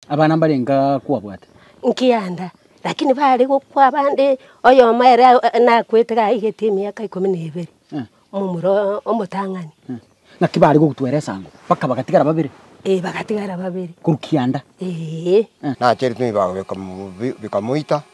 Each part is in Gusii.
Abana mbare nka kwabwate. Nkianda, lakini baare gokwa abande, oyomo ere nakwete gaigete emiaka ikomi na ebere, momura omotang'ani. Naki baare gogutwera esango, baka bagatigara babere? Ee, bagatigara babere. Korwa kianda? Ee. Nacheretwe bikaba bikamoita.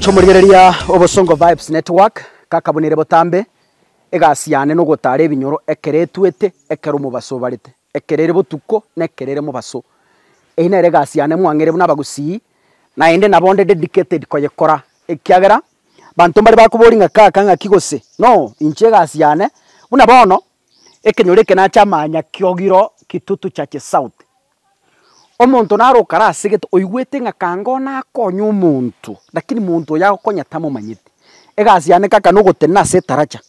Chomorigereria Obosongo Vibes Network ngakabunire botambe egasi yane na ogotara ebinyoro ekero etuete, ekero omobaso obarete, ekero ere botuko na ekero ere mobaso. Eyio nere egasi yane mwang'eire buna abagusii, naende nabo onde dedicated koyekora ekiagera banto mbare bakoboria ng'a kaka ng'aki gose no, inche egasi yane buna bono ekenyoro eke nache amanya kiogiro Kitutu Churches South. Omonto naro okarasegete oigwete ng'a kanga oo nakonye omonto, rakini monto oyo agokonya tamomanyete. Egasi yane kaka nogotenena ase etaracha,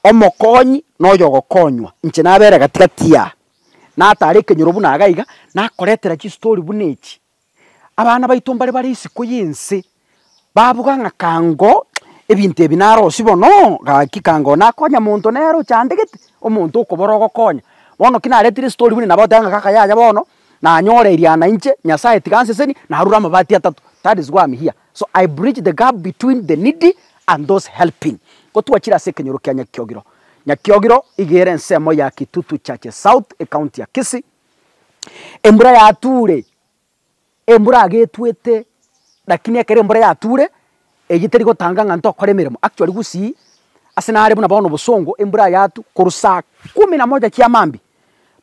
omokonyi na oyo ogokonywa, inche nabera gati gati aa. Natara ekenyoro buna iga iga, nakoretera chistori buna echi, Abana baito mbare bare isiko y'ense, babuga ng'a kaango ebinto ebi narosie bono, gaki kaango nakonya monto nere ochandegete, omonto okobora ogokonya. Bono ki naretire story buna nabo oteba ng'a kaka yaya bono, nanyora eriana inche, Nyasaye tiga anseseni, narure amabati atato, that is why am here. So I bridge the gap between the needy and those helping. Ko twachire ase ekenyoro kia Nyakiogiro. Nyakiogiro iga ere ensemo ya Kitutu Churches South, ecounty ya Kisii. embura yature, embura agetwete, lakini ekero embura yature, eywo teri gotanga ng'a ntokore emeremo, actually gusii, ase nare buna bono bosongo, embura yatu korwa saa kumi na moja kia maambia,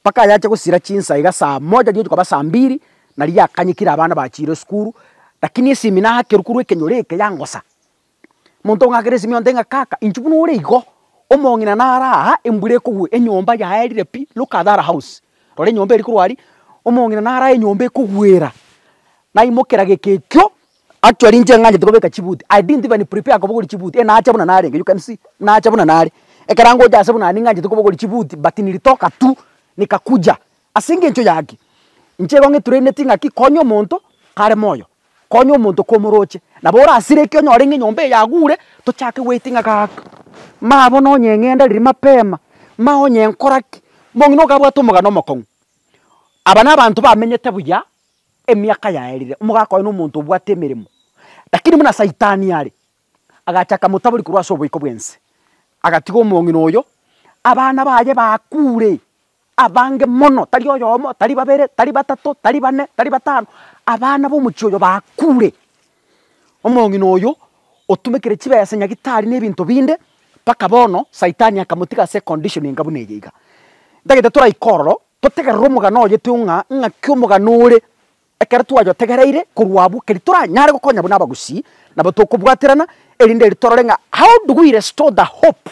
mpaka yacha gosira chinsa iga saa moja riotuko kaba saa mbiri, naria yakanyekire abana bachiire esukuru, lakini esimi nakerwa korwa ekenyoro eke yangosa, Omonto ng'akere Simion te ng'a, Kaka, inchuo buna ore igo, omong'ina nare aa, embura ekogwa, enyomba yaye erire pi, look at that house, rora enyomba eri korwa aria, omong'ina nare aa enyomba ekogwera. Naimokera gekekio, actually inche ng'anchete kobeka chibuti, I didn't even prepare kobogori chibuti, eh nacha buna narenge, you can see, nacha buna nare. Ekero angocha ase buna ning'anchete kobogori chibuti but nilitoka tu, nikakuja, Ase engencho yaki, inche igo ng'etureneti ng'aki konya omonto kare moyo, konya omonto komoroche, nabo orasireke onyore ng'a enyomba eye yagure, tochake goeti ng'a gaaka, maya bono onye eng'enda riria mapema, maya onye nkora ki, mong'ina ogo abwate omogano omokong'u. Aba nabanto bamenyete buya emiaka yaerire, omogaka oye nomonto obwate emeremo, lakini buna saitani are, agacha akamotabori korwa ase oboiko bw'ense, agatiga omong'ina oyo, abana baye bakuure, abange mono, tari oyomo, tari babere, tari batato, tari bane, tari batano, abana b'omochie oyo bakuure. Omong'ina oyo otumekire chibesa nyagitari na ebinto binde, mpaka bono saitani akamotiga ase econdition enga buna eye iga. Ntagete toraike ororo, totegerere omogano oye teo ng'a ng'aki omogano ore Ekero twayotegereire korwa abwo keri toranyare gokonya buna abagusii, nabo tokobwaterana, erinde eri torore ng'a how do we restore the hope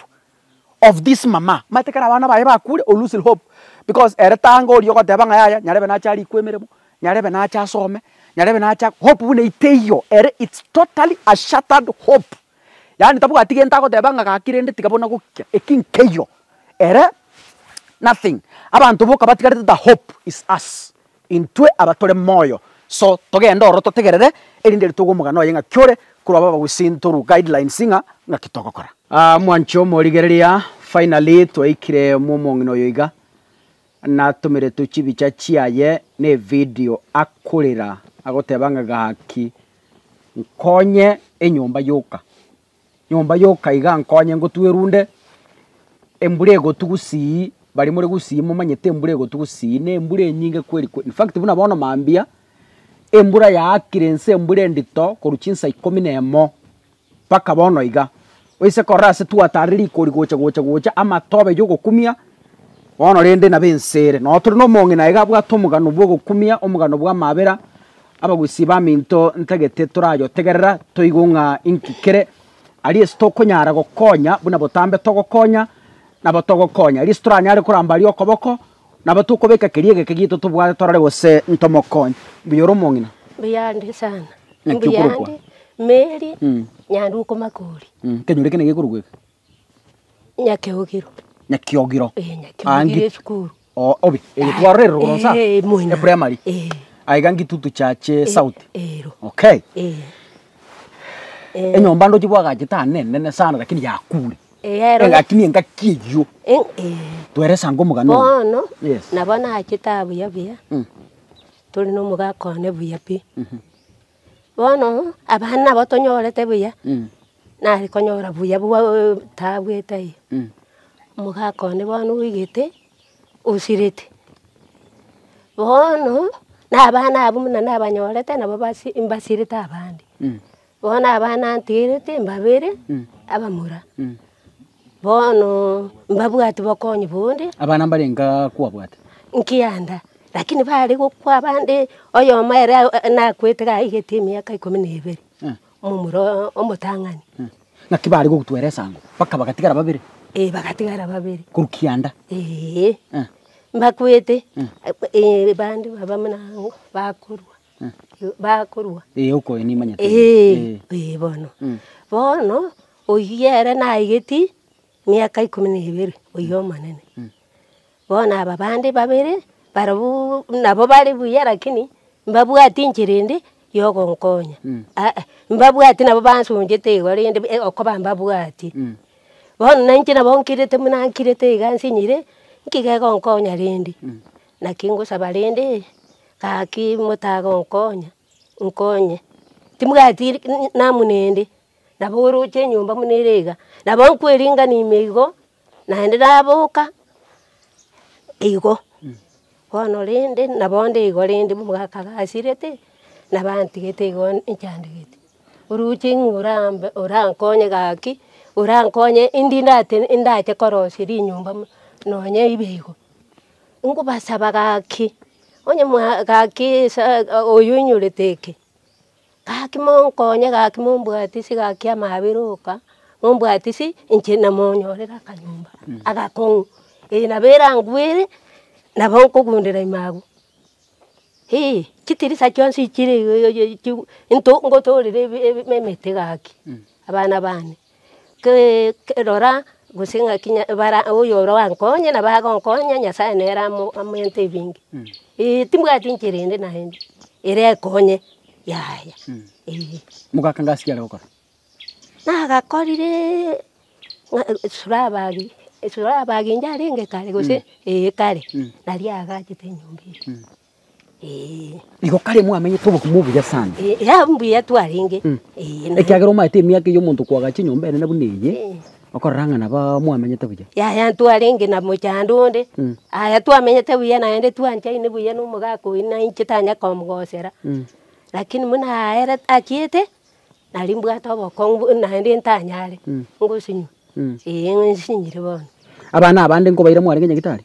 of this mama, omanyete ekero abana baye bakure o lose hope because ere tanga oria ogoteba ng'a yaya nyarebe nache arikwe emeremo, nyarebe nache asome, nyarebe nache ak hope buna eteiyo ere it's totally a shattered hope, yaani tabwati gento agoteba ng'a gaki rende tiga bono gokia, eki nkeiyo ere nothing, abanto boka batigarete the hope is us. Intwe aba tore moyo so togende ororo totegerere erinde ritogwe omogano oye ng'aki ore korwa aba bagosintorwa guidelines ng'a ng'aki togokora. Ah mwanche omorigereria, finally twaikire mwomong'ina oyo iga, natomeretwe chibicha chiaye ne video akorera agoteba ng'a gaki nkonye enyomba yoka. Nyomba yoka iga nkonye ngotue runde embura egotu gusii, baria more gusii momanyete embura egotu gusii na embura enyinge kweri kweri. Infact buna bono mambia, embura yaakire inse embura endito korwa chinsa ikomi na emo mpaka bono iga. Oise korora ase twatarire rigori gocha gocha gocha amatobe yogokumia, bono rende nabo ense ere. Noo tore na omong'ina iga abwate omogano bwogokumia, omogano bw'amabera, Abagusi baminto ntagete torayotegerera toigwe ng'a inki kere. Aria ase tokonyara gokonya buna botambe togokonya nabo togokonya. Aria ase toranyare koramba aria okoboko nabo tokobeka keria egeke gito tobwate torore gose ntomokonye. Mbuya ore omong'ina. Mbuya ande sana. Naki okorokwa? Mbuya ande Mary Nyanduko Makori. Kenyoro eke naki ekorokwa eke? Nyakeogiro. Nyakiogiro. Eh, Nyakiogiro Ange- esukuru. O- obe eye twarorere rogoro nsa Eh, eh, moina. eprimary Eh. aiga ngitutu chache sauti Ero. okay Eh. Eh, enyomba ndoche bwagachete aa nenene sana lakini yakure eh, ero. lakini engaki eyio Eh, eh. tweresange omogano oyo. Bono, Yes. nabo nachete aa buya buya. Mm. Tore nomogaka one buya pi. Bono abana nabo tonyorete buya, nare konyora buya bwa taabu etaiyo. Omogaka one bono oigete, osirete. Bono, na abana abwo buna nabanyorete nabo basi mbasirete abande. Bono abana ntigerete mbabere abamura. Bono mbabwati bokonyi bonde. Abana mbarenge kwabwate. Nkianda, lakini bare gokwa abande, oyomo ere nakwete gaigeti emiaka ikomi na ebere, momura omotang'ani. Naki bare gogotwera esango, mpaka bagatigara babere? Ee, bagatigara babere. Korwa kianda? Ee. Mbakwete, bande baba buna aa, bakorua. bakorua. Ee, okoyo nimanyete. Ee, ee bono. Bono oyio ere naigeti miaka ikomi na ebere, oyio omonene. Bono aba bande babere, barobuu nabo bare buya lakini mbabwati enchera ende yogonkonya. Aa, mbabwati nabo bansonchete igo rende e- okoba mbabwati. Bono nainche nabo nkirete buna nkirete iga nsinyire, nki gegonkonya rende? Naki ngosaba rende. Gaki motaga onkonya, nkonye, timugati namunende, nabo oroche enyomba buna ere iga, nabo nkoeringani ime igo, naende naboka igo, bono rende nabo nde igo rende omogaka agasirete, nabo antigete igo nchandegete, oroche ng'a orambe orankonye gaki, orankonye indi ndate ndache korosia rinyomba buna nonye ibe igo. Nkobasaba gaki, onye mwa gaki esaa oyo oinyorete eke, gaki monkonye gaki mombwatisi gaki amabera oka, mombwatisi inche namonyorere akanyomba agakong'u, eye nabo erangwere nabo nkogundera ime abwo. Eeh chitirisa chionsi chire iga iga iga iga chigwe into ngotorere ebe ebe emete gaki abana bane. rora gose ng'aki bara oyorakonye nabo agonkonya Nyasaye nere amoente ebinge. Eeh timbwati enchera ende naende ere ekonye yaya eeh. Mogaka ngasi ki are gokora? Nagakorire esurabagi, esurabagi inche arenge kare gose eeh kare, naria agachete enyomba eye. Ee. Igo kare mwamenyete obogima obuya sana. Ee, ee, ah, mbuya twarenge. Mm. Ee, na- Ekiagera omaete emiaka eyio omonto koaga chinyomba enene buna eye, Ee. okorora ng'a naba mwamenyete buya. Yaya ntwarenge na mochando onde, Mm. aya twamenyete buya naende twanchaine buya na omogaka oyi na inche tanya komogosera. Mm. Lakini buna aerete achiete, nari mbwate obokong'u bu- naende ntanyare Mm. ngosinywa. Mm. Ee, ng'isinyire bono. Abana abande nkobaira mwarenge nyagetari?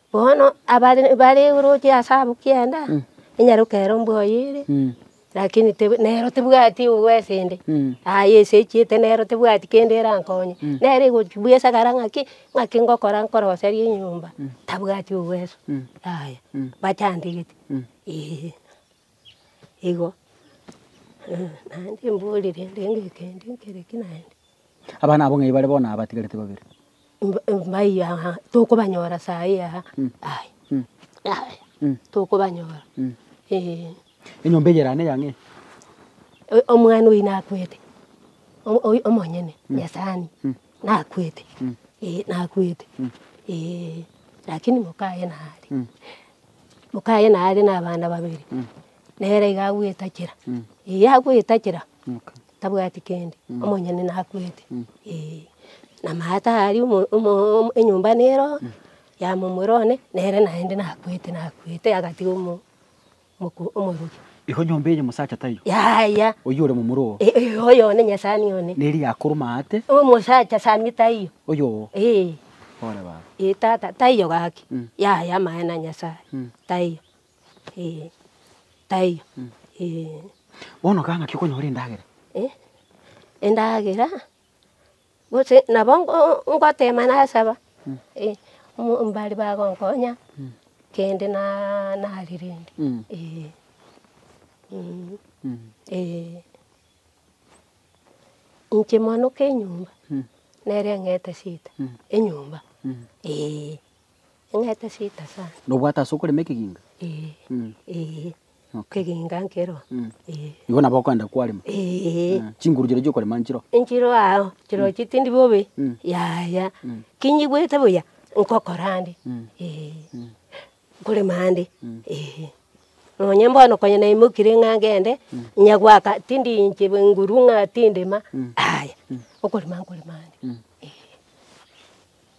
Bono abare bare oroche ase abwo kianda, enyaroka ero mbwoye ere, lakini teb nero tebwati obwesi inde, aye esechiete nero tebwati kende erankonye, nere egochi bwa esagara ng'aki, ng'aki ngokora nkoroserie enyomba, tabwati obweso, yaya, bachantegete eeh. igo naende mborire rende ekende ekere ki naende. Abana abwo ng'ai bare bono aba batigarete babere? Mba- mba- mbayi aha, tokobanyora sayi aha, aye, aye, tokobanyora, eeh. Enyomba eye erane eyang'ee? Omwana oyio nakwete, omo- oyo omonyene, Nyasani, Nakwete, ee nakwete, ee. Lakini mokaye nare, mokaye nare na abana babere, nere iga agoetachera, ee agoetachera tabwati kende, omonyene nakwete, ee. Na maate aria omo omo enyomba nero, ya momura one, nere naende nakwete nakwete agatiga omo. mokuu omorokia. Igo nyomba eye mosacha taiyo? Yaya. Oyio ore momura oo? Eh, eh, oyo one nyasani one. Neri yakoruma aate? Omosacha sani taiyo? Oyo oo? Eh. Ore baba. Eh, tata, taiyo gaki. Mm. Yaya amaene a Nyasaye. Mm. Taiyo. Eh, taiyo. Mm. Eh. Bono kang'aki okonyora endagera? Eh, endagera? Gose nabo ngoteema nasaba, mbari bagonkonya kende narerende, ee. Inche mwanoko enyomba nere eng'ete seita enyomba, ee. Enyete sita sana. Na obwate ase okorema ekeginga? Ee. Mm. Ee. Okay. Ekeginga nkero. Mm. Ee. Igo nabo okoenda kwarema? Ee. Mm. Chinguru chiria chiokorema nchiro? Nchiro ao, chiro chitindi bobe. Mm. Yaya. Mm. Kinyigwete buya, nkokora ande. Mm. Ee. Mm. Nkorema ande. Mm. Ee. Nonye bono konya naimokire ng'a ngende, nyagoaka tindi inche bwenguru ng'a tindema, Mm. aya. Mm. Okorema nkorema ande. Mm. Ee.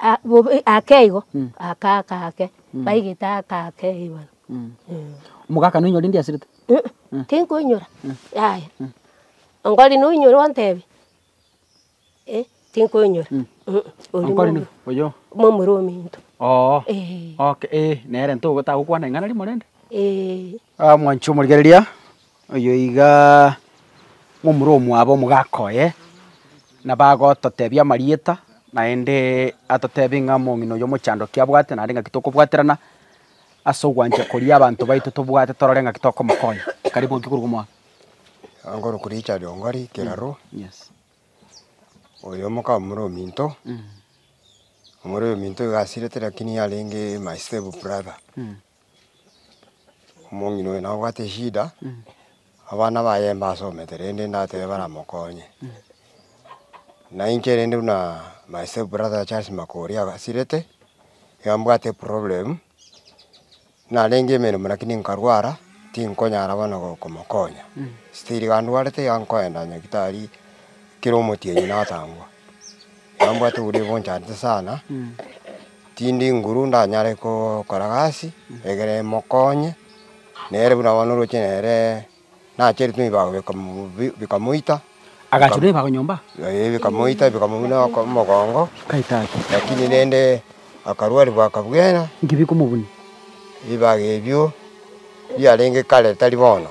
Ah bobe ake igo, ake ake ake, baigete ake ake ribare eh. Omogaka noinyore ndiasirete? Immh tinkoinyora, yaya onkori noinyore ontebie? Eh tinkoinyora immh oria Onkori nomo nigo oyo? momura ominto Oo eh. oke eh nere ntogo tagokwana ing'ana rimo rende? Eh. Omwanchi omorigereria. Oyo iga ng'omura omwabo omogaka oye, na bagototebia amarieta, naende atotebe ng'a omong'ina oyo omochandoki abwate, naende ng'aki tokobwaterana ase ogwancha koria abanto baito tobwate torore ng'aki tokomokonya. Karibu ng'aki korwa omwabo. Ngoroku Richard Ongori Kiraro, oyo omoka omura ominto, omura ominto iga asirete lakini yarenge my step brother. Omong'ina oyo nabwate eshida, abana baye mbasomete rende ndatebe baramokonye. Na inche rende buna my step brother Charles Makori agasirete, iga mbwate eproblem, narenge emeremo lakini nkarwara, tinkonyara bono go komokonya, still iga ndwarete iga nkoenda nyagitari kera omotienyi natangwa. Iga mbwate oboria boncharete sana. Tindi nguru ndanyare gokora gasi egere emokonye, nere buna bono oroche nere nacheretwe ebibago bikamoita, Agachora ebibago nyomba? Ee, bikamoita bikamobuna omogongo, lakini rende akarwani bwaka bwena. Inki bikomobuna? Ebibago ebio biarenge kare tari bono,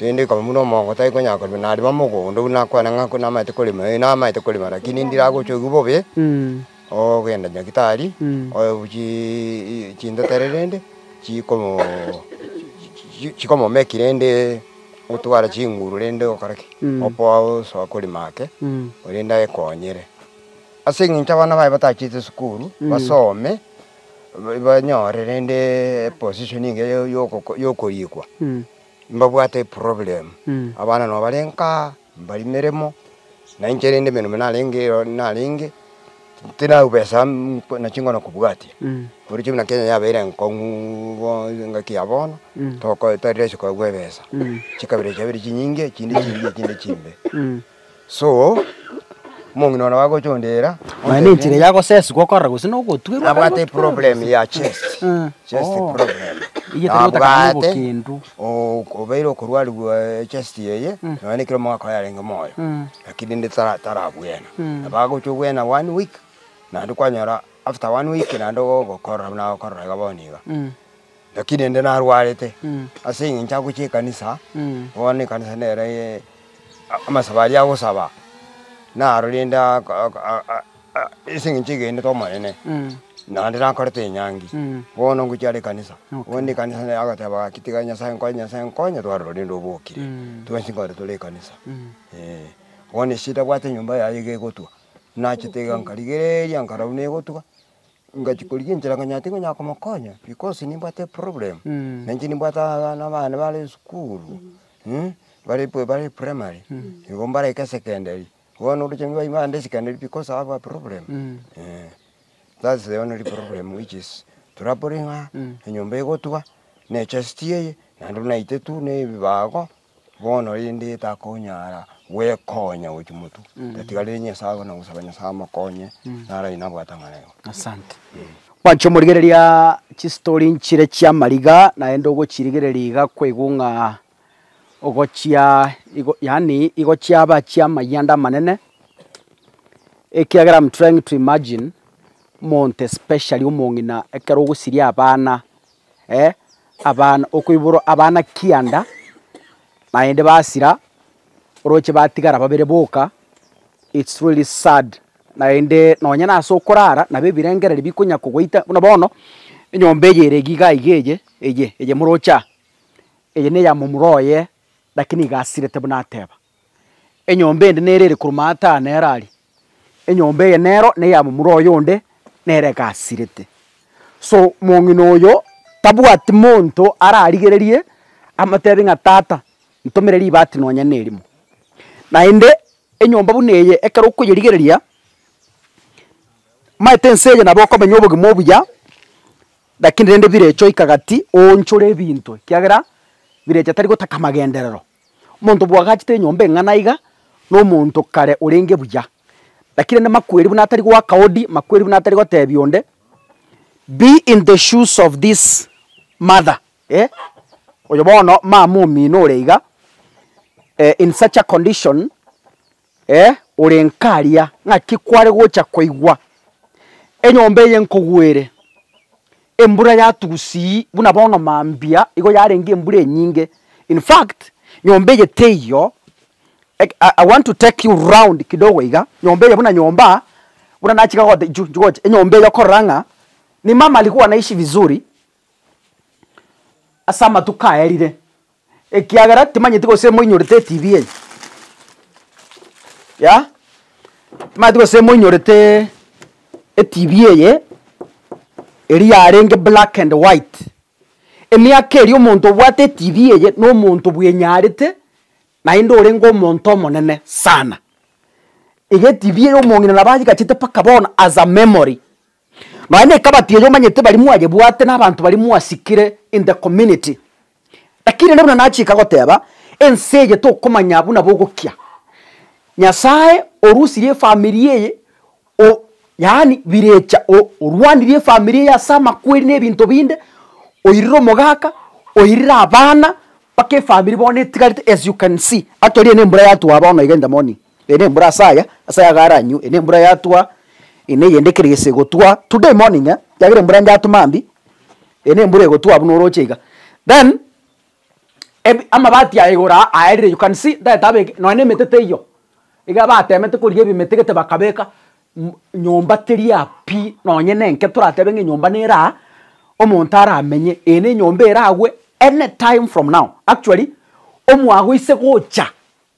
rende bikamobuna omogongo tari konyara korema, narema mogondo buna akwane ng'a namaete korema, ee namaete korema, lakini ndiragochwa oywo bobe. Ogogenda Nyagitari, oe bu chi chinteteri rende chikomo chikomomeki rende otware chinguru rende okore ki? Okoa osoa kori make rende aekonyere. Ase eng'encho abana baye batachete esukuru basome, banyore rende eposition engiya ya- ya- yokorikwa, mbabwate eproblem, abana nabo bare nkaa. Mbari meremo, na inche rende emeremo narenge ero narenge, tinau besa na chingono kobwatia. Oroche buna Kenya yabeire enkong'u bono engaki ya bono, toko tari rahisi koegwa ebesa. Chikabira chiabeire chinyinge, echinde chimbia echinde chimbe. So, omong'ina one agocha ondira, Mani enchera ya gosesigwa okorora gose na ogotwerwa. nabwate eproblem ya chest, chest problem, nabwate ok obeire okorwarigwa echest eye, nonya nekero omogaka oye arenge moyo, lakini rende tara tarabwena, nabo agocha obwena one week, naende kwanyora after one week naende ogokorora buna agokorora iga bono iga, lakini rende narwarete, ase eng'encho agocha ekanisa, bono ekanisa nere amasabo aria agosaba, naro rende aka aka. Ase engencho egenete Omonene, naende nakorete enyangi, bono ngochia are ekanisa. Bono ekanisa nere agoteba gaki tiga Nyasae nkonye, Nyasae nkonye, twarora rende obokire, twensi nkore tore ekanisa, eh. Bono ase ntabwate enyomba yaye iga egotwa, nachete iga nkarigereria nkarora buna egotwa, ngachia korigia enchera nkanya tari konyara komokonya because nimbwate eproblem, nainche nimbwate aa nabana bare esukuru, bare primary, nigo mbarenge secondary. Bono oroche ng'a baibande ase ekero naende because I have a problem eeh, that is the only problem which is troubling her, enyomba egotwa, na echest eye, naende buna naite tu na ebibago, bono rende takonyara gwekonya gochia motwe, tatigarire Nyasae abana gosaba Nyasae amokonye, naro aywo nabwate ang'anaino. Asante. Mwancha omorigereria chistori nchire chi'amariga naende ogochirigereria iga kwaigwa ng'a ogochia igo yaani igochia abachie amayia ande amanene, ekiagera am trying to imagine omonto especially omong'ina ekero ogosiria abana abana okoiborwa abana kianda naende basira oroche batigara babere boka, it's really sad naende nonye nase okorara nabo ebirengereri bikonya kogoita buna bono, enyomba eye ere iga iga iga eye eye eye moroche aa, Eye neya momura oye, lakini iga asirete buna ateba, Enyomba ende nere ere korwa maata aa nere aria, enyomba eye nero neya momura oye onde, nere iga asirete. So, mong'ina oyo tabwati monto ararigererie amotebi ng'a tata, ntomere ribati nonya na erimo. Naende, enyomba buna eye ekero okoyerigereria, maete ense eye nabo okomenya obogima obuya. Lakini rende birecha oika gati oonchore ebinto, ekiagera birecha tari gotaka amagenderero. Omonto bwagachete enyomba eng'ana iga, na omonto kare orenge buya. Lakini rende makweri buna atari goaka odi, makweri buna atari gotebia onde, be in the shoes of this mother, eh, oyo bono mama omino ore iga, eh, in such a condition, Ee, ore nkaria, ng'aki kware gocha koigwa enyomba eye nkogwere? Embura yatusii buna bono mambia igo yarenge embura enyinge, in fact nyomba eye teiyo, I want to take you round kidogo iga, nyomba eye buna nyomba buna nachaka gote inchu inchu gocha enyomba eye okorora ng'a ni mama alikuwa anaishi vizuri ase amatuko aerire, Ekiagera timanyeti gose moinyorete etv eye ya timanyeti gose moinyorete etv eye eria yarenge black and white emiaka eria omonto obwate etv eye na omonto bwenyarete naende orenge omonto omonene sana. Iga etv eye omong'ina nabo agigachete mpaka bono as a memory. Nonya na ekabati eye omanyete baria mwayebwate na abanto baria mwasikire in the community. Lakini rende buna nachika goteba, ense eye tokomanya buna bogokia. Nyasaye orusirie efamiri eye o yaani birecha o orwanirie efamiri eye ase amakweri na ebinto binde, oirire omogaka, oirire abana, mpaka efamiri bono etigarete as you can see. Actually eye nembura yatwa bono iga in the morning. Eye ne embura ase aya, ase aya garanywe, eye ne embura yatwa, eye ne eyende ekero ese egotwa, today morning eh, ekiagera embura ende yatwa mambia, eye ne embura egotwa buna oroche iga, then ebi amabati aya igoro aa aerire you can see ntaete abeke nonya na emete teiyo, iga batemete korigia ebimete gete bakabeka mm nyomba teri aa pi, nonye na enke toratebe ng'a enyomba nere aa, omonto aramenye, eye ne enyomba eragwe anytime from now, actually omwaga oise gocha.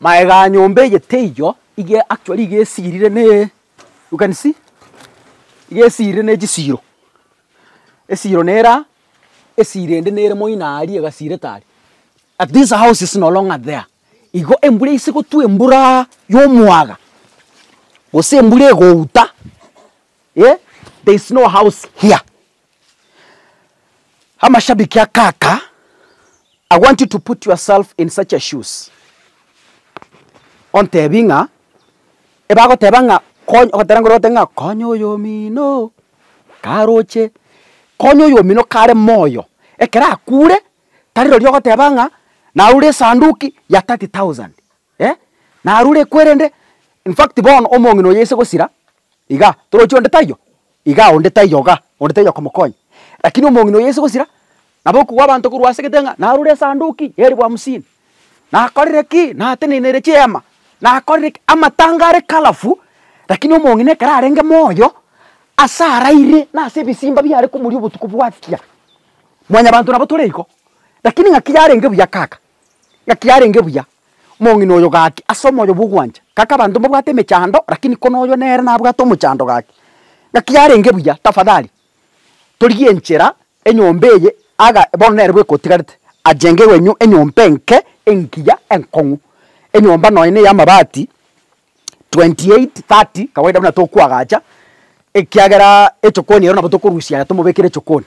Magega a nyomba eye teiyo iga actually iga esirire ne you can see, iga esirire ne chisiro, esiro nere aa, esiro ende nere moino aria egasirete aria. At this house is no longer there, igo embura ase gotwa emburaaa yomwaga, gose embura egouta eh, there is no house here. Amashabiki a kaka, I want you to put yourself in such a shoes. Ontebi ng'a, ebagoteba ng'a konya, ogotera ngoro ogote ng'a konya oyomino karoche, konya oyomino kare moyo, ekero akure, tari rorio ogoteba ng'a narure esanduki ya thirty thousand. Eh, narure kwerende infact bono omong'ina oyo ase gosira iga, torochi onde taiyo? iga onde taiyo iga, onde taiyo okomokonya. Lakini omong'ina oyo ase gosira, nabo okogwa abanto korwa ase egete ng'a narure esanduki ya eribu hamsini, nakorire ki? nateneneire chiehema, nakorire ki? Amatanga are colourful, lakini omong'ina ekero arenge moyo, ase araire na ase ebisimba biare komoria obotuko bwakia. Mwanyabanto nabo tore igo, lakini ng'aki yarenge buya kaka, Ngaki yarenge buya, omong'ina oyo gaki ase omoyo bw'ogwancha, gaki abanto mbabwate emechando, rakini kono oyo nere nabwate omochando gaki. Ngaki yarenge buya, tafadhali torigie enchera enyomba eye aga bono nere bwekotigarete, achenge wenyu enyomba enke engiya enkong'u, enyomba nonya ne ey'amabati 28, 30, kawaida buna tokoagacha, ekiagera echokoni ero nabo tokorusia aya tomobekere echokoni.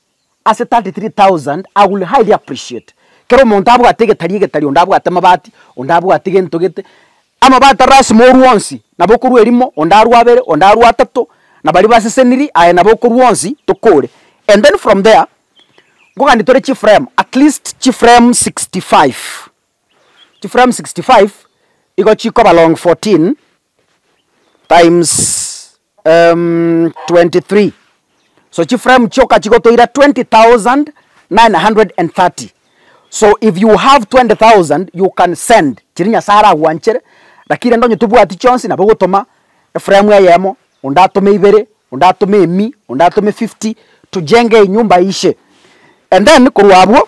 ase 33,000 I will highly appreciate kera omonto abwate egetari egetari onde abwate amabati onde abwate gento gete amabati arasimo orwe onsi nabo okorwa erimo onde arwe abere onde arwe atato na baria baseseniri aye nabo okorwa onsi tokore and then from there nkogani tore chiframe at least chiframe 65 chiframe 65 igo chikoba long 14 times um, 23 so chiframe chioka chigotoira 20930 so if you have 20000 you can send chiri nyasae aragwanchere lakini rende onye tobwati chionsi nabo ogotoma eframe eyemo onde atome ibere onde atome emi onde atome 50 tujenge enyumba ishe and then korwa abwo.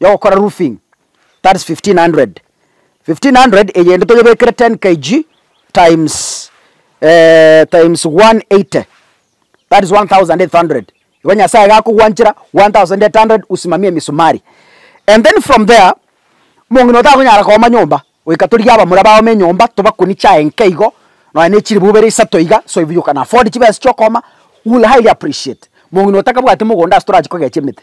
yogokora roofing that is 1500 1500 eyende toyebekere 10 kg times eh, times 180 that is 1800 igo nyasaye iga akogwanchera 1800 usimamie emisumari and then from there omong'ina oyo takonyara kooma nyomba goika torigie abamura baome enyomba tobakunie chiaye nke igo nonya na echiribu ibere isato iga so if you can afford chibesa chiokooma u will highly appreciate mong'ina oyo takabwati mogondo ase torachi kogecha emete.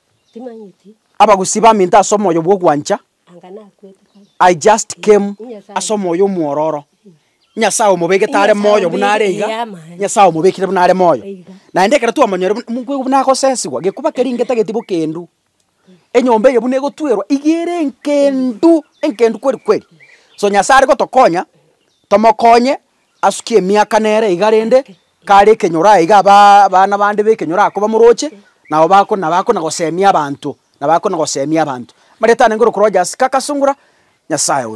Abagusii baminto ase omoyo bw'ogwancha, I just came ase omoyo omwororo. Nyasaye omobegete are moyo buna are iga, Nyasaye omobekire buna are moyo. Naende ekero twamonyore buna mogoika buna agosesigwa, gekuba keria inge tageti bokendu. Enyomba eye buna egotwerwa, iga ere enkendu, enkendu kweri kweri. So Nyasaye are gotokonya, tomokonye. asukia emiaka nere iga rende, kare ekenyoro aye iga aba abana bande b'ekenyoro akoba moroche, nabo bako na bakona gosemia abanto, na bakona gosemia abanto. Marieta anengerwe korwa Jasica, akasungura Nyasae oyo.